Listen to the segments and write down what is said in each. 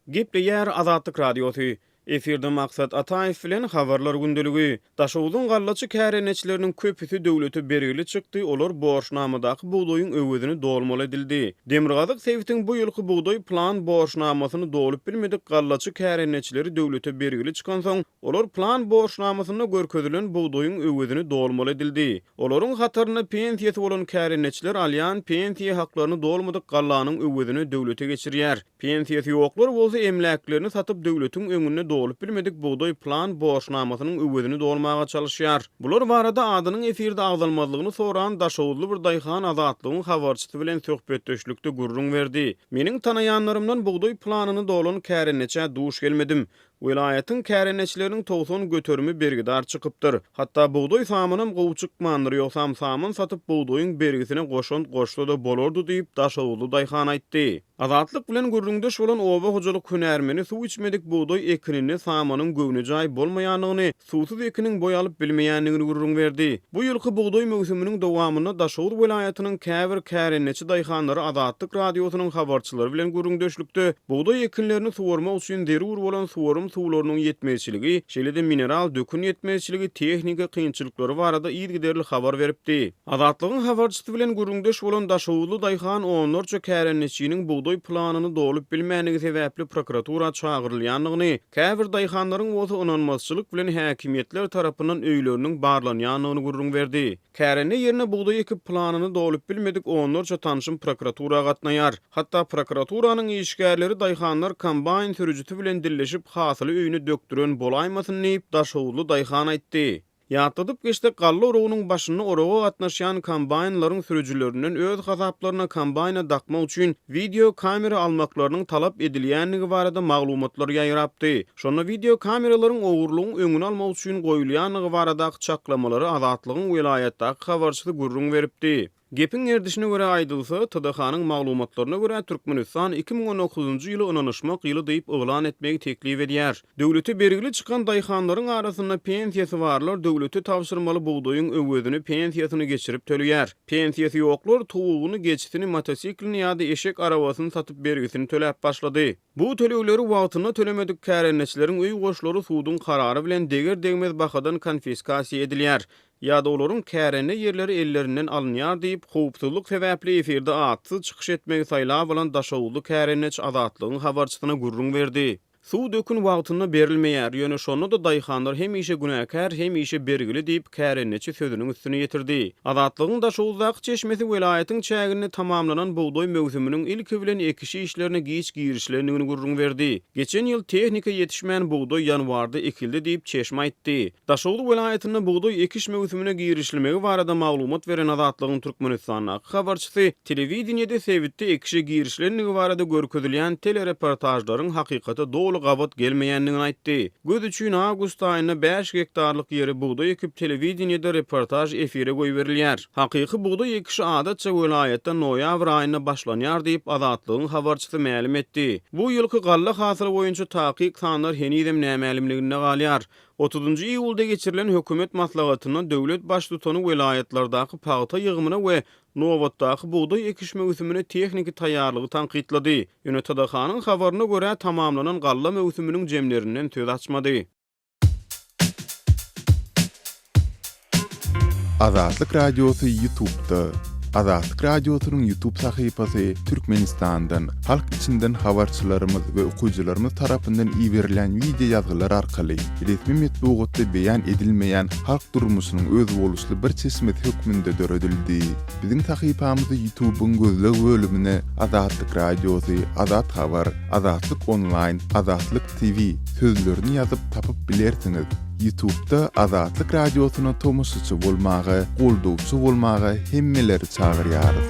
Gepleýär Azatlyk Radiosy. Efirde Maksat Ataýew bilen Habarlar gündeligi. Daşoguzyň gallaçy kärendeçileriniň köpüsi döwlete bergili çykdy, olar borçnamadaky bugdaýyň öwezini dolmaly edildi. Demirgazyk sebitiň bu ýylky bugdaý plan borçnamasyny dolup bilmedik gallaçy kärendeçileri döwlete bergili çykansoň, Olar plan borçnamasynda görkezilen bugdaýyň öwezini dolmaly edildi. Olaryň hatarynda pensiýasy bolan kärendeçiler alýan pensiýa haklaryny dolmadyk gallanyň öwezini döwlete geçirýär. Pensiýasy ýoklar bolsa emläklerini satyp döwletiň öňünde dolup bilmedik bugdaý plan borçnamasynyň öwezini dolmaga çalyşýar. Bular barada adynyň efirde agzalmazlygyny soran daşoguzly bir daýhan Azatlygyň habarçysy bilen söhbetdeşlikde gürrüň berdi. Meniň tanaýanlarymdan bugdaý planyny dolan kärendeçä duş gelmedim. Welaýatyň kärendeçileriniň togsan göterimi bergidar çykypdyr. Hatda bugdaý samynam gowy çykmandyr, ýogsam samyn satyp bugdaýyň bergisine goşant goşsa-da bolardy diýip, daşoguzly daýhan aýtdy. Azatlyk bilen gürrüňdeş bolan oba hojalyk hünärmeni suw içmedik bugdaý ekininde samynyň göwnejaý bolmaýandygyny, suwsuz ekiniň boý alyp bilmeýändigini gürrüň berdi. Bu ýylky bugdaý möwsüminiň dowamynda Daşoguz welaýatynyň käbir kärendeçi daýhanlary Azatlyk Radiosynyň habarçylary bilen gürrüňdeşlikde bugdaý ekinlerini suwarmak üçin zerur bolan suwarym suwlarynyň ýetmezçiligi, şeýle-de mineral dökün ýetmezçiligi, tehniki kynçylyklary barada yzygiderli habar beripdi. Azatlygyň habarçysy bilen gürrüňdeş bolan daşoguzly daýhan onlarça kärendeçiniň bugdaý planyny dolup bilmändigi sebäpli prokuratura çagyrylýandygyny, Käbir daýhanlaryň bolsa ynanmazçylyk bilen häkimiýetler tarapyndan öýleriniň barlanýandygyny gürrüň berdi. Kärende ýerine bugdaý ekip planyny dolup bilmedik onlarça tanşym prokuratura gatnaýar. Hatda prokuraturanyň işgärleri daýhanlar kombaýn sürüjisi bilen dilleşip hasyly öýüne dökdüren bolaýmasyn diýip, daşhowuzly daýhan aýtdy. Ýatladyp geçsek, galla oragynyň başynda oraga gatnaşýan kombaýnlaryň sürüjilerinden öz hasaplaryna kombaýna dakmak üçin wideo kamera almaklarynyň talap edilýändigi barada maglumatlar ýaýrapdy. Şonda wideo kameralaryň ogurlygyň öňüni almak üçin goýulýandygy baradaky çaklamalary Azatlygyň welaýatdaky habarçysy gürrüň beripdi. Gepiň gerdişine görä aýdylsa, TDH-nyň maglumatlaryna görä, Türkmenistan iki müň on dokuzynjy ýyly ynanyşmak ýyly diýip yglan etmegi teklip edýär. Döwlete bergili çykan daýhanlaryň arasynda pensiýasy barlar döwlete tabşyrmaly bugdaýyň öwezini pensiýasyna geçirip töleýär. Pensiýasy ýoklar towugyny, geçisini, motosiklini ýa-da eşek arabasyny satyp bergisini töläp başlady. Bu tölegleri wagtynda tölemedik kärendeçileriň öý goşlary suduň karary bilen deger-degmez bahadan konfiskasiýa edilýär. ýa-da olaryň kärende ýerleri ellerinden alynýar diýip, howpsuzlyk sebäpli efirde atsyz çykyş etmegi saýlap alan daşoguzly kärendeçi Azatlygyň habarçysyna gürrüň berdi. Suw dökün wagtynda berilmeýär, ýöne şonda-da daýhanlar hemişe günäkär, hemişe bergili diýip, kärendeçi sözüniň üstüni ýetirdi. Azatlygyň Daşoguzdaky çeşmesi welaýatyň çäginde tamamlanan bugdaý möwsüminiň ilki bilen ekiş işlerine giç girişilendigini gürrüň berdi. Geçen ýyl tehnika ýetişmän bugdaý ýanwarda ekildi diýip, çeşme aýtdy. Daşoguz welaýatynda bugdaý ekiş möwsümine girişilmegi barada maglumat beren Azatlygyň Türkmenistandaky habarçysy telewideniýede sebitde ekişe girişilendigi barada görkezilýän telereportažlaryň hakykata doly gabat gelmeýändigini aýtdy. Göz üçin awgust aýynda bäş gektarlyk ýere bugdaý ekip telewideniýede reportaž efire goýberilýär. Hakyky bugdaý ekişi adatça welaýatda noýabr aýynda başlanýar diýip Azatlygyň habarçysy mälim etdi. Bu ýylky galla hasyly boýunça takyk sanlar henizem nämälimliginde galýar. Otuzynjy iýulda geçirilen hökümet maslahatynda döwlet Baştutany welaýatlardaky pagta ýygymyna we nobatdaky bugdaý ekiş möwsümine tehniki taýýarlygy tankytlady. Ýöne TDH-nyň habaryna görä, tamamlanan galla möwsüminiň jemlerinden söz açmady. Azatlyk Radiosy Ýutubda. Azatlyk Radiosynyň Ýutub sahypasy Türkmenistandan, halk içinden habarçylarymyz we okyjylarymyz tarapyndan iberilen wideo ýazgylar arkaly resmi metbugatda beýan edilmeýän halk durmuşynyň özboluşly bir çeşmesi hökmünde döredildi. Biziň sahypamyzy Ýutubyň gözleg bölümine Azatlyk Radiosy, Azat Habar, Azatlyk Onlaýn, Azatlyk TV sözlerini ýazyp tapyp bilersiňiz. Ýutubda Azatlyk Radiosyna tomaşaçy bolmaga, goldawçy bolmaga hemmeleri çagyrýarys.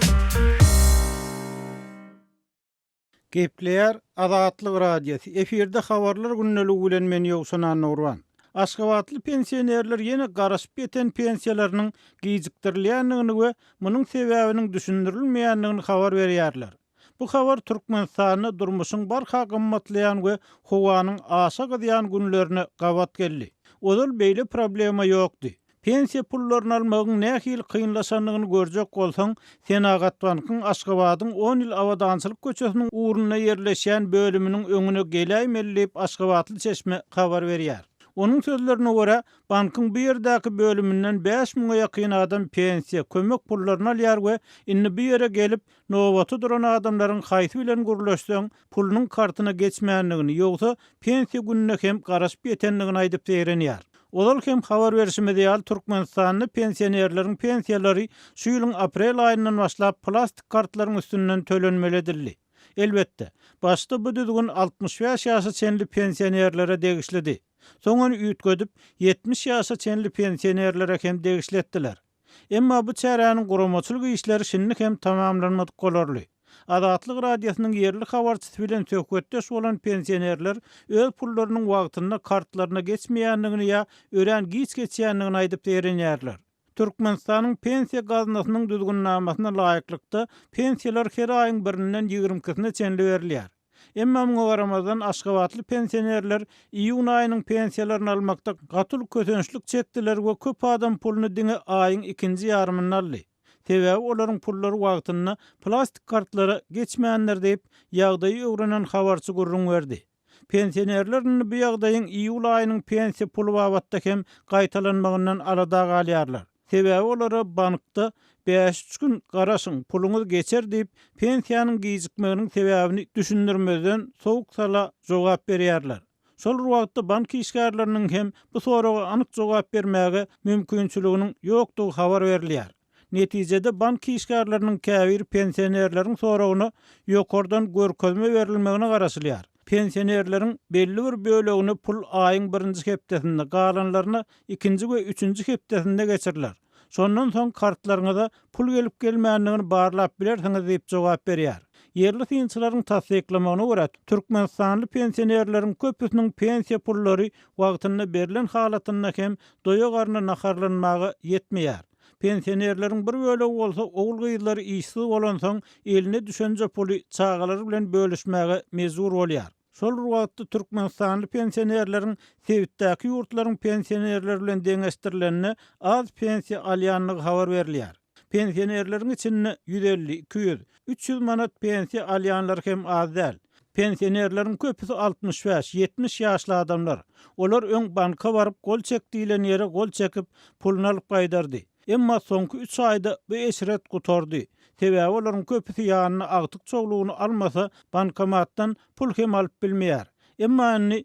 Gepleýär Azatlyk Radiosy, efirde habarlar gündeligy bilen men Ýowşan Annagurban. Aşgabatly pensionerler ýene garaşyp ýeten pensiýalarynyň gijikdirilýändigini we munuň sebäbiniň düşündirilmeýändigini habar berýärler. Bu habar Türkmenistanda durmuşyň barha gymmatlaýan we howanyň aşa gyzýan günlerine gabat geldi. Ozal beýle problema ýokdy. Pensiýa pullaryny almagyň nähili kynlaşandygyny görjek bolsaň, Senagatbankyň Aşgabadyň on ýyl Abadançylyk köçesiniň ugrunda ýerleşýän bölüminiň öňüne geläýmeli diýip, aşgabatly çeşme habar berýär. Onuň sözlerine görä, bankyň bu ýerdäki bölüminden bäş müňe ýakyn adam pensiýa, kömek pullaryny alýar we indi bu ýere gelip, Nobata duran adamlaryň haýsy bilen gürleşseň, pulunyň kartyna geçmändigini, ýogsa pensiýa gününe hem garaşyp ýetendigini aýdyp zeýrenýär. Ozal hem habar berşimiz ýaly, Türkmenistanda pensionerleriň pensiýalary şu ýylyň aprel aýyndan başlap plastik kartlaryň üstünden tölenmeli edildi. Elbetde, başda bu düzgün altmyş bäş ýaşa çenli pensionerlere degişlidi. Soň ony üýtgedip, ýetmiş ýaşa çenli pensionerlere hem degişli etdiler. Emma bu çäräniň guramaçylyk işleri şindi hem tamamlanmadyk bolarly. Azatlyk Radiosynyň ýerli habarçysy bilen söhbetdeş bolan pensionerler öz pullarynyň wagtynda kartlaryna geçmeýändigini ýa örän giç geçýändigini aýdyp zeýrenýärler. Türkmenistanyň Pensiýa gaznasynyň düzgünnamasyna laýyklykda pensiýalar her aýyň birinden ýigrimkisine çenli berilýär. Emma muňa garamazdan, aşgabatly pensionerler iýun aýynyň pensiýalaryny almakda gaty uly kösençlik çekdiler we köp adam puluny diňe aýyň ikinji ýarymynda aldy. Sebäbi olaryň pullary wagtynda plastik kartlara geçmändir diýip, ýagdaýy öwrenen habarçy gürrüň berdi. Pensionerler indi bu ýagdaýyň iýul aýynyň pensiýa puly babatda hem gaýtalanmagyndan alada galýarlar. Sebäbi olara bankda bäş-üç gün garaşyň, puluňyz geçer diýip, pensiýanyň gijikmeginiň sebäbini düşündirmezden sowuk sala jogap berýärler. Şol bir wagtda bank işgärleriniň hem bu soraga anyk jogap bermäge mümkinçiliginiň ýokdugy habar berilýär. Netijede bank işgärleriniň käbiri pensionerleriň soragyna ýokardan görkezme berilmegine garaşylýar. Pensionerleriň belli bir bölegine pul aýyň birinji hepdesinde, galanlaryna ikinji we üçünji hepdesinde geçiriler. Şondan soň kartlaryňyza pul gelip-gelmändigini barlap bilersiňiz diýip jogap berýär. Ýerli synçylaryň tassyklamagyna görä, türkmenistanly pensionerleriň köpüsiniň pensiýa pullary wagtynda berlen halatynda hem doýa-garna naharlanmaga ýetmeýär. Pensionerleriň bir bölegi bolsa ogul-gyzlary işsiz bolansoň, eline düşenje puly çagalary bilen bölüşmäge mejbur bolýar. Şol bir wagtda türkmenistanly pensionerleriň sebitdäki ýurtlaryň pensionerleri bilen deňeşdirilende az pensiýa alýandygy habar berilýär. Pensionerleriň içinde ýüz elli, iki ýüz, Üç ýüz manat pensiýa alýanlar hem az däl. Pensionerleriň köpüsi altmyş bäş, ýetmiş ýaşly adamlar. Olar öň banka baryp, gol çek diýlen ýere gol çekip, puluny alyp gaýdardy. Emma soňky üç aýda bu eşret gutardy. Sebäbi olaryň köpüsi ýanyna agtyk çowlugyny almasa, bankomatdan pul hem alyp bilmeýär. Emma indi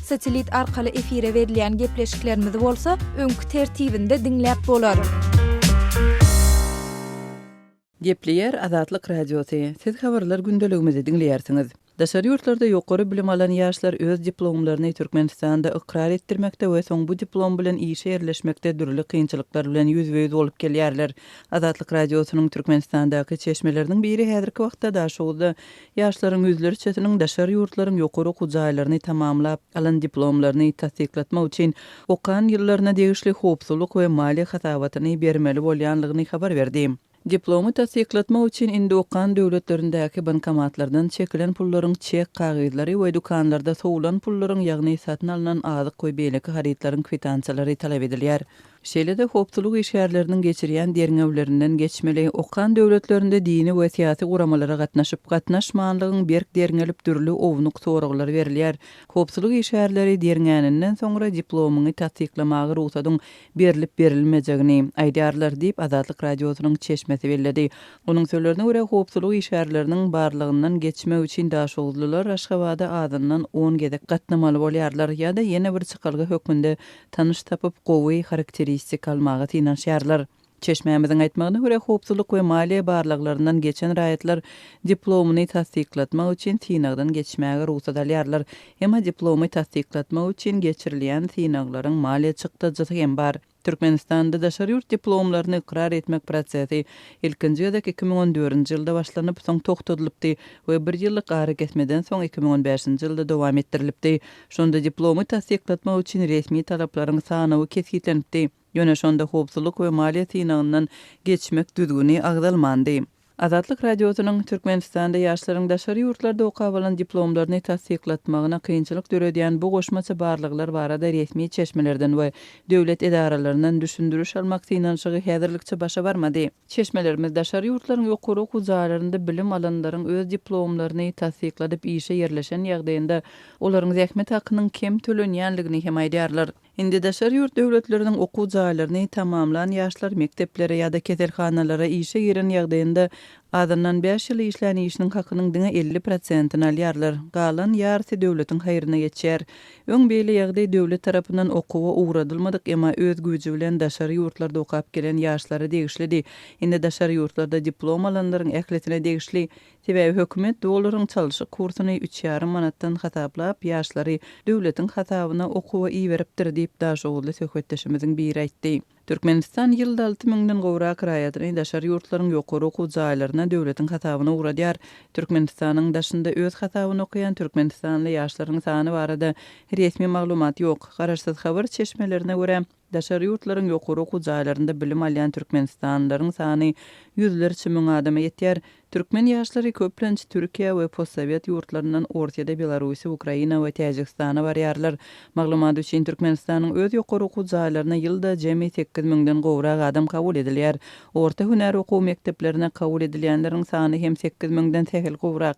Satelit arkaly efire berilýän gepleşiklerimizi bolsa öňki tertibinde diňläp bolar. Gepleýär Azatlyk Radiosy, Siz habarlar gündeligimizi diňleýärsiňiz. Daşary ýurtlarda ýokary bilim alan ýaşlar öz diplomlaryny Türkmenistanda ykrar etdirmekde we soň bu diplom bilen işe ýerleşmekde dürli kynçylyklar bilen ýüzbe-ýüz bolup gelýärler. Azatlyk Radiosynyň Türkmenistandaky çeşmeleriniň biri häzirki wagtda Daşoguzda Ýaşlaryň ýüzlerçesiniň daşary ýurtlaryň ýokary okuw jaýlaryny tamamlap, alan diplomlaryny tassyklatmak üçin okan ýyllaryna degişli howpsuzlyk we maliýe hasabatyny bermeli bolýanlygyny habar berdi. Diplomy tassyklatmak üçin indi okan döwletlerindäki bankomatlardan çekilen pullaryň çek kagyzlary we dükanlarda sowulan pullaryň, ýagny satyn alnan azyk we beýleki harytlaryň kwitansiýalary talap edilýär. Şeýle-de howpsuzlyk işgärleriniň geçirýän derňewlerinden geçmeli, okan döwletlerinde dini we syýasy guramalara gatnaşyp, gatnaşmanlygyň berk derňelip dürli ownuk soraglar berilýär. Howpsuzlyk işgärleri derňäninden soňra diplomyňy tassyklamaga rugsadyň berlip-berilmejegini aýdarlar diýip, Azatlyk Radiosynyň çeşmesi belledi. Onuň sözlerine görä, howpsuzlyk işgärleriniň barlagyndan geçmek üçin daşoguzlylar Aşgabada azyndan on gezek gatnamaly bolýarlar ýa-da ýene bir çykalga hökmünde tanyş tapyp, gowy harakteristika almaga synanyşýarlar. Çeşmämiziň aýtmagyna görä, howpsuzlyk we maliýe barlaglaryndan geçen raýatlar diplomyny tassyklatmak üçin synagdan geçmäge rugsat alýarlar. Emma diplomy tassyklatmak üçin geçirilýän synaglaryň maliýe çykdajysy hem bar. Türkmenistanda daşary ýurt diplomlaryny ykrar etmek prosesi ilkinji gezek iki müň on dördünji ýylda başlanyp, soň togtadylypdy we bir ýyllyk arakesmeden soň iki müň on bäşinji ýylda dowam etdirilipdi. Şonda diplomy tassyklatmak üçin resmi talaplaryň sanawy kesgitlenipdi, ýöne şonda howpsuzlyk we maliýe synagyndan geçmek düzgüni agzalmandy. Azatlyk Radiosynyň Türkmenistanda ýaşlaryň daşary ýurtlarda okap alan diplomlaryny tassyklatmagyna kynçylyk döredýän bu goşmaça barlaglar barada resmi çeşmelerden we döwlet edaralaryndan düşündiriş almak synanyşygy häzirlikçe başa barmady. Çeşmelerimiz daşary ýurtlaryň ýokary okuw jaýlarynda bilim alanlaryň öz diplomlaryny tassykladyp işe ýerleşen ýagdaýynda olaryň zähmet hakynyň kem tölenýändigini hem aýdýarlar. Indi daşary ýurt döwletleriniň okuw jaýlaryny tamamlan ýaşlar mekdeplere ýa-da keselhanalara işe giren ýagdaýynda azyndan bäş ýyl işlän işiniň hakynyň diňe elli prosentini alýarlar, galan ýarysy döwletiň haýryna geçýär. Öň beýle ýagdaý döwlet tarapyndan okuwa ugradylmadyk, emma öz güýji bilen daşary ýurtlarda okap gelen ýaşlara degişlidi. Indi daşary ýurtlarda diplom alanlaryň ählisine degişli. Sebäbi hökümet olaryň çalşyk kursuny üç ýarym manatdan hasaplap, ýaşlary döwletiň hasabyna okuwa iberipdir diýip, daşoguzly söhbetdeşimiziň biri aýtdy. Türkmenistan ýylda alty müňden gowrak raýatyny daşary ýurtlaryň ýokary okuw jaýlaryna döwletiň hasabyna ugradýar. Türkmenistanyň daşynda öz hasabyna okaýan türkmenistanly ýaşlaryň sany barada resmi maglumat ýok. Garaşsyz habar çeşmelerine görä, daşary ýurtlaryň ýokary okuw jaýlarynda bilim alýan türkmenistanlylaryň sany ýüzlerçe müň adama ýetýär, Türkmen ýaşlary köplenç Türkiýä we postsowet ýurtlaryndan Orsýede, Belarusýa, Ukraina we Täjigistana barýarlar. Maglumat üçin, Türkmenistanyň öz ýokary okuw jaýlaryna ýylda jemi sekiz müňden gowrak adam kabul edilýär. Orta hünär okuw mekdeplerine kabul edilýänleriň sany hem sekiz müňden sähel gowrak.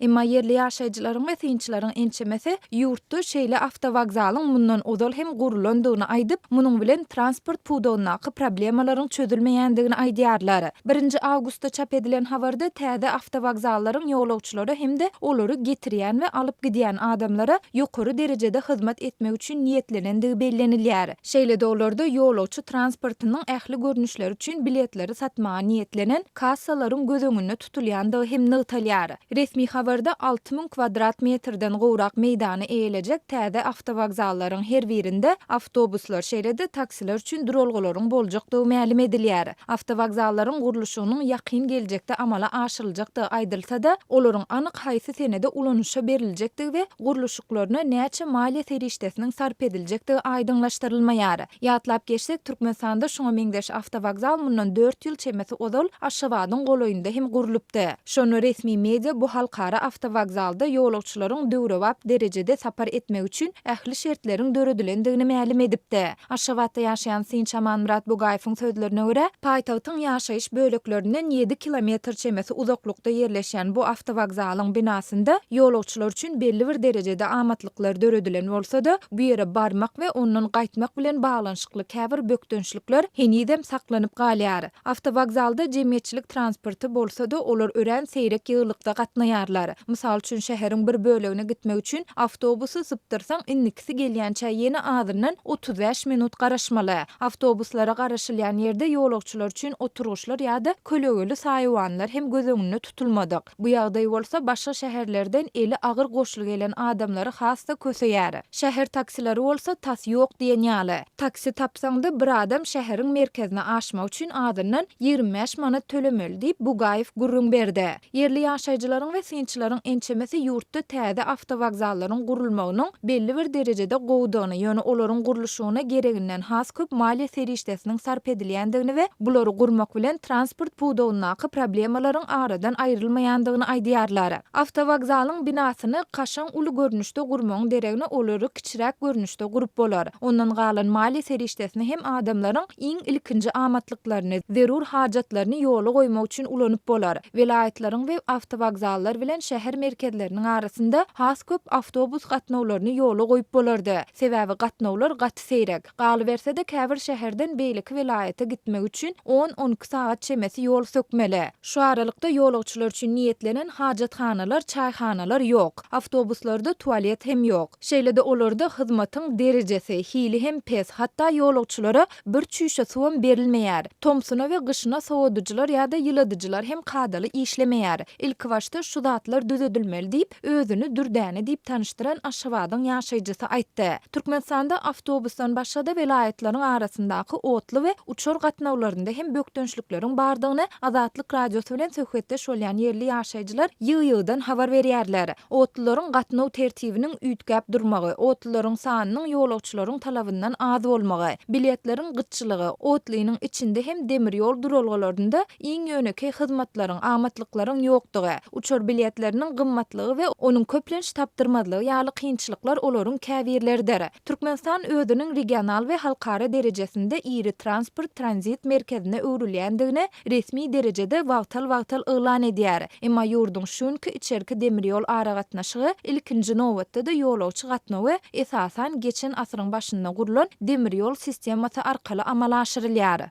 Emma ýerli ýaşaýjylaryň we synçylaryň ençemesi ýurtda şeýle awtowokzalyň mundan ozal hem gurlandygyny aýdyp, munuň bilen transport pudagyndaky problemalaryň çözülmeýändigini aýdýarlar. Birinji awgustda çap edilen habarda täze awtowokzallaryň ýolagçylara hem-de olary getirýän we alyp gidýän adamlara ýokary derejede hyzmat etmek üçin niýetlenendigi bellenilýär. Şeýle-de olarda ýolagçy transportynyň ähli görnüşleri üçin biletleri satmaga niýetlenen kassalaryň göz öňünde tutulýandygy hem nygtalýar. Resmi habarda alty müň kwadrat metrden gowrak meýdany eýelejek täze awtowokzallaryň her birinde awtobuslar, şeýle-de taksiler üçin duralgalaryň boljakdygy mälim edilýär. Awtowokzallaryň gurluşygynyň ýakyn geljekde amala aşyryljakdygy aýdylsa-da, olaryň anyk haýsy senede ulanyşa beriljekdigi we gurluşyklaryna näçe maliýe serişdesiniň sarp ediljekdigi aýdyňlaşdyrylmaýar. Ýatlap geçsek, Türkmenistanda şuňa meňzeş awtowokzal mundan dört ýyl çemesi ozal Aşgabadyň golaýynda hem gurlupdy. Şonda resmi media bu halkara awtowokzalda ýolagçylaryň döwrebap derejede sapar etmegi üçin ähli şertleriň döredilendigini mälim edipdi. Aşgabatda ýaşaýan synçy Amanmyrat Bugaýewiň sözlerine görä, paýtagtyň ýaşaýyş böleklerinden ýedi kilometr çemesi uzaklykda ýerleşýän bu awtowokzalyň binasynda ýolagçylar üçin belli bir derejede amatlyk gatnaşyklar döredilen bolsa-da, bu ýere barmak we ondan gaýtmak bilen baglanyşykly käbir bökdençlikler henizem saklanyp galýar. Awtowokzalda jemgyýetçilik transporty bolsa-da, olar örän seýrek ýygylykda gatnaýarlar. Mysal üçin, şäheriň bir bölegine gitmek üçin awtobusy sypdyrsaň, indikisi gelýänçä ýene azyndan otuz bäş minut garaşmaly. Awtobuslara garaşylýan ýerde ýolagçylar üçin oturgyçlar ýa-da kölegeli saýawanlar hem göz öňünde tutulmadyk. Bu ýagdaý bolsa başga şäherlerden eli agyr goşly gelen adamlary has-da köseýär. Şäher taksilary bolsa tas ýok diýen ýaly. Taksi tapsaň-da, bir adam şäheriň merkezine aşmak üçin azyndan ýigrimi bäş manat tölemeli diýip, Bugaýew gürrüň berdi. Ýerli ýaşaýjylaryň we synçylaryň ençemesi ýurtda täze awtowokzallaryň gurulmagynyň belli bir derejede gowudygyny, ýöne olaryň gurluşygyna gereginden has köp maliýe serişdesiniň sarp edilýändigini we bulary gurmak bilen transport pudagyndaky problemalaryň aradan aýrylmaýandygyny aýdýarlar. Awtowokzalyň binasyny kaşaň uly görnüşde gurmagyň deregine olary kiçiräk görnüşde gurup bolar. Ondan galan maliýe serişdesini hem adamlaryň iň ilkinji amatlyklaryny, zerur hajatlaryny ýola goýmak üçin ulanyp bolar. welaýatlaryň we awtowokzallar bilen şäher merkezleriniň arasynda has köp awtobus gatnawlaryny ýola goýup bolardy, sebäbi gatnawlar gaty seýrek. Galyberse-de, käbir şäherden beýleki welaýata gitmek üçin on-on iki sagat çemesi ýol sökmeli. Şu aralykda ýolagçylar üçin niýetlenen hajathanalar, çaýhanalar ýok. Awtobuslarda tualet hem ýok. Şeýle-de olarda hyzmatyň derejesi, hili hem pes, hatda ýolagçylara Bir çüýşe suwam berilmeýär. Tomsuna we gyşyna sowadyjylar ýa-da ýyladyjylar hem kadaly işlemeýär. Ilkibaşda şu zatlar düzedilmeli diýip, özüni Dürdäne diýip tanyşdyran Aşgabadyň ýaşaýjysy aýtdy. Türkmenistanda awtobusdan başga-da welaýatlaryň arasyndaky otly we uçar gatnawlarynda hem bökdençlikleriň bardygyny Azatlyk Radiosy bilen söhbetdeş bolýan ýerli ýaşaýjylar ýygy-ýygydan habar berýärler. Otlularyň gatnaw tertibiniň üýtgäp durmagy, otlularyň sanynyň ýolagçylaryň talabyndan az bolmagy, biletleriň gytçylygy, otlynyň içinde hem demir ýol duralgalarynda iň ýönekeý hyzmatlaryň, amatlyklaryň ýokdugy, uçar biletleriniň gymmatlygy we onuň köplenç tapdyrmazlygy ýaly kynçylyklar olaryň käbirleridir. Türkmenistan özüniň regional we halkara derejesinde iri transport tranzit merkezine öwrülýändigini resmi derejede wagtal-wagtal yglan edýär, emma ýurduň şunki içerki demir ýol aragatnaşygy, ilkinji nobatda-da ýolagçy gatnawy, esasan, geçen asyryň başynda gurlan demir ýol sistemasy arkaly amala aşyrylýar.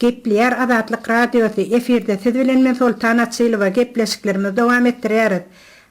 Gepleýär Azatlyk Radiosy, efirde siz bilen men Soltan Açylowa gepleşiklerimizi dowam etdirýäris.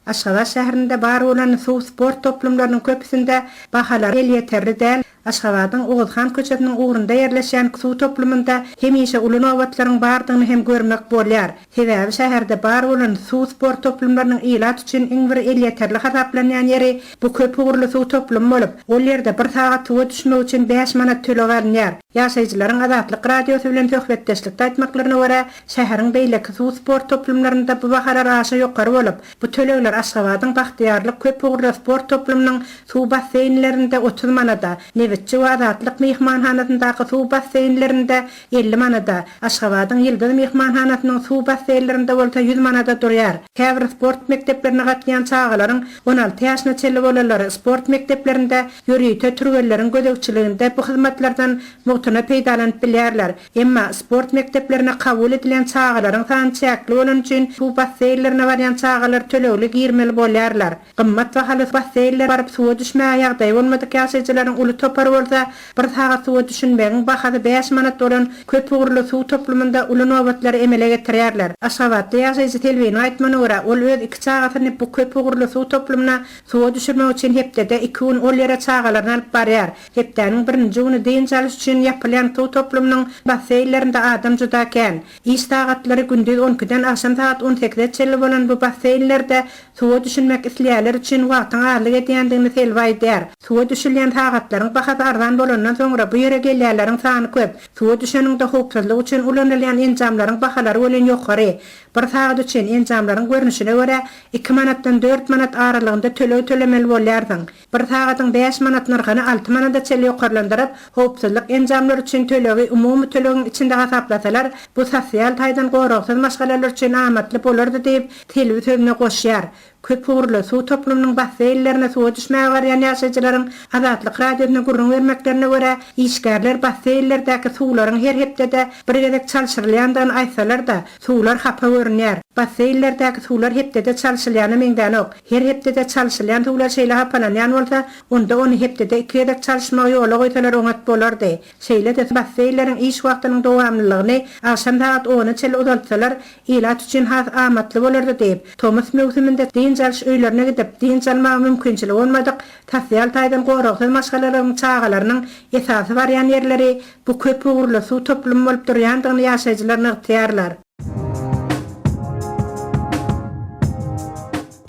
Aşgabat şäherinde bar bolan suw sport toplumlarynyň köpüsinde bahalar elýeterli däl, Aşgabadyň Oguzhan köçesiniň ugrunda ýerleşýän suw toplumynda hemişe uly nobatlaryň bardygyny hem görmek bolýar. Sebäbi şäherde bar bolan suw sport toplumlarynyň ilat üçin iň bir elýeterli hasaplanýan ýeri bu köp ugurly suw toplumy bolup, ol ýerde bir sagat suwa düşmek üçin bäş manat töleg alynýar. Ýaşaýjylaryň Azatlyk Radiosy bilen söhbetdeşlikde aýtmaklaryna görä, şäheriň beýleki suw sport toplumlarynda bu bahalar aşa ýokary bolup, bu tölegler Aşgabadyň Bagtyýarlyk köp ugurly sport toplumynyň suw basseýnlerinde otuz manada, Nebitçi we Azatlyk myhmanhanasyndaky suw basseýnlerinde elli manada, Aşgabadyň Ýyldyz myhmanhanasynyň suw basseýnlerinde bolsa ýüz manada durýar. Käbir sport mekdeplerine gatnaýan çagalaryň, on alty ýaşyna çenli bolanlary sport mekdeplerinde ýörite türgenleriň gözegçiliginde bu hyzmatlardan mugtuna peýdalanyp bilýärler. Emma sport mekdeplerine kabul edilen çagalaryň sany çäkli bolany üçin suw basseýnlerine barýan çagalar tölegli girmeli bolýarlar. Gymmat bahaly basseýnlere baryp suwa düşmäge ýagdaýy bolmadyk ýaşaýjylaryň uly topary bolsa, bir sagat suwa düşünmegiň bahasy bäş manat bolan köpugurly suw toplumynda uly nobatlary emele getirýärler. Aşgabatly ýaşaýjy Selbiniň aýtmagyna görä, ol öz iki çagasyny bu köpugurly suw toplumyna suwa düşürmek üçin hepdede iki gün ol ýere çagalaryny alyp barýar. Hepdäniň birinji güni dynç alyş üçin ýapylýan suw toplumynyň basseýnlerinde adam juda kän. Iş sagatlary gündiz on ikiden agşam sagat on sekize çenli bolan bu basseýnlerde suwa düşünmek isleýänler üçin wagtyň azlyk edýändigini Selbi aýdýar. Suwa düşülýän sagatlaryň bahasy arzan bolandan soňra bu ýere gelýänleriň sany köp. Suwa düşeniňde howpsuzlyk üçin ulanylýan enjamlaryň bahalary welin ýokary. Bir sagat üçin enjamlaryň görnüşine görä iki manatdan dört manat aralygynda töleg tölemeli bolýarsyň. Bir sagadyň bäş manat nyrhyny alty manada çenli ýokarlandyryp, howpsuzlyk enjamlary üçin tölegi umumy tölegiň içinde hasaplasalar, bu sosial taýdan goragsyz maşgalalar üçin amatly bolardy diýip, Selbi sözüne goşýar. Köp ugurly suw toplumynyň basseýnlerine suwa düşmäge barýan ýaşaýjylaryň Azatlyk Radiosyna gürrüň bermeklerine görä, işgärler basseýnlerdäki suwlaryň her hepdede bir gezek çalşyrylýandygyny aýtsalar-da, Suwlar hapa görünýär. Basseýnlerdäki suwlar hepdede çalşylýana meňzänok. Her hepdede çalşylýan suwlar şeýle hapalanýan bolsa, onda ony hepdede iki gezek çalşmagy ýola goýsalar oňat bolardy. Şeýle-de basseýnleriň iş wagtynyň dowamlylygyny agşam sagat ona çenli uzaltsalar, ilat üçin has amatly bolardy diýip, tomus möwsüminde dynç alyş öýlerine gidip, dynç almaga mümkinçiligi bolmadyk sosial taýdan goragsyz maşgalalaryň çagalarynyň esasy barýan ýerleri Bu köp ugurly suw toplumy bolup durýandygyny ýaşaýjylar nygtaýarlar.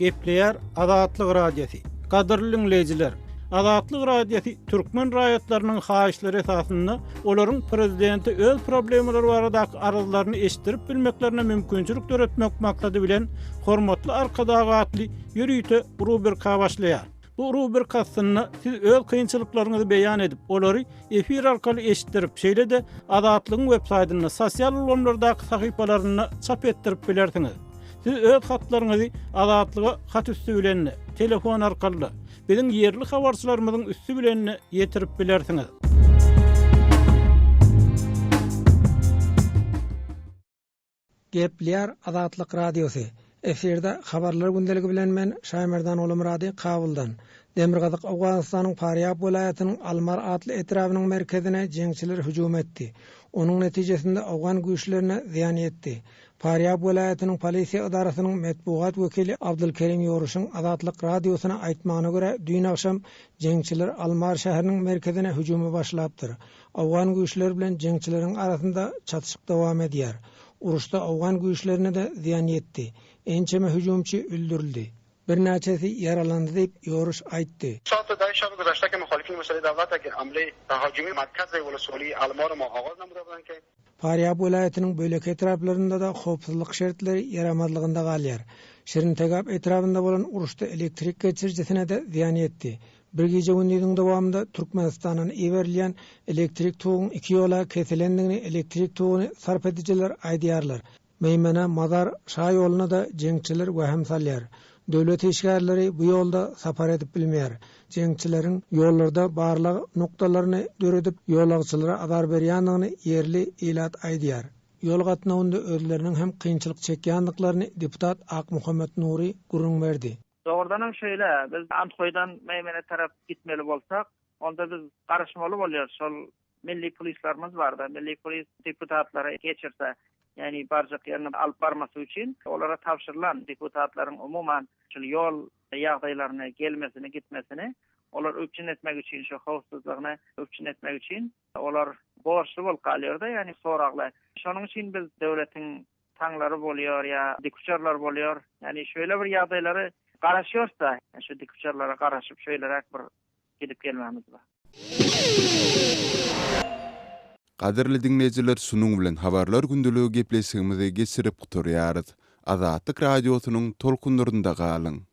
Gepleýär Azatlyk Radiosy. Gadyrly diňleýjiler! Azatlyk Radiosy türkmen raýatlarynyň haýyşlary esasynda olaryň prezidente öz problemalary baradaky arzlaryny eşitdirip bilmeklerine mümkinçilik döretmek maksady bilen Hormatly Arkadag atly ýörite rubrika başlaýar. Bu rubrik aslynda siz öz kynçylyklaryňyzy beýan edip, olary efir arkaly eşitdirip, şeýle-de Azatlygyň web saýtynda, sosial ulgamlardaky sahypalarynda çap etdirip bilersiňiz. Siz öz hatlaryňyzy Azatlyga hat üsti bilen-de, telefon arkaly-da, biziň ýerli habarçylarymyzyň üsti bilen-de ýetirip bilersiňiz. Geplýär Azatlyk Radiosy. Efirde Habarlar gündeligi bilen men Şaýmerdan Gulumyrady Kabuldan. Demirgazyk Owganystanyň Parýab welaýatynyň Almar atly etrabynyň merkezine jeňçiler hüjüm etdi. Onuň netijesinde owgan güýçlerine zyýan ýetdi. Parýab welaýatynyň polisiýa edarasynyň metbugat wekili Abdulkerim Ýoruşyň Azatlyk Radiosyna aýtmagyna görä düýn agşam jeňçiler Almar şäheriniň merkezine hüjüme başlapdyr. Owgan güýçleri bilen jeňçileriň arasynda çatyşyk dowam edýär. Uruşda owgan güýçlerine-de zyýan ýetdi. Ençeme hüjümçi öldürildi. Birnäçesi ýaralandy diýip, Ýoruş aýtdy. Şatyda şol güzeşteki muhalifyň wekili Dawlatagi Amli Tahogimi Markazy Wulsuli Almorimo Oguz Namyza bilenki, Parýab welaýatynyň beýleki etraplarynda-da howpsuzlyk şertleri ýaramazlygynda galýar. Şirintegap etrabynda bolan uruşda elektrik geçirijisine-de zyýan ýetdi. Bir gije-gündiziň dowamynda Türkmenistandan iberilýän elektrik toguň iki ýola kesilendigini elektrik toguny sarp edijiler aýdýarlar. Meýmene, Mazar Şa ýoluna-da jeňçiler wähim salýar. Döwlet işgärleri bu ýolda sapar edip bilmeýär. Jeňçileriň ýollarda barlag nokdalaryny döredip, ýolagçylara azar berýändigini ýerli ilat aýdýar. Ýol gatnawynda özleriniň hem kynçylyk çekýändiklaryny deputat Akmuhammet Nury gürrüň berdi. Dogrudan hem şeýle, biz Anhoýdan Meýmene tarap gitmeli bolsak, onda biz garaşmaly bolýarys, şol milli polislerimiz barda, milli polis deputatlary geçirse, ýagny barjak ýerine alyp barmasy üçin olara tabşyrylan, deputatlaryň umuman şol ýol ýagdaýlaryny, gelmesini, gitmesini olar üpjün etmek üçin, şo howpsuzlygyny üpjün etmek üçin olar borçly bolup galýarda, ýagny soragly. Şonuň üçin biz döwletiň taňlary bolýar ýa dikuçarlar bolýar. Ýagny şeýle bir ýagdaýlary garaşýarys-da, şu dikuçarlara garaşyp şeýleräk bir gidip gelmämiz bar. Gadyrly diňleýjiler şunuň bilen Habarlar gündeligi gepleşigimizi geçirip gutarýarys. Azatlyk Radiosynyň tolkunlarynda galyň!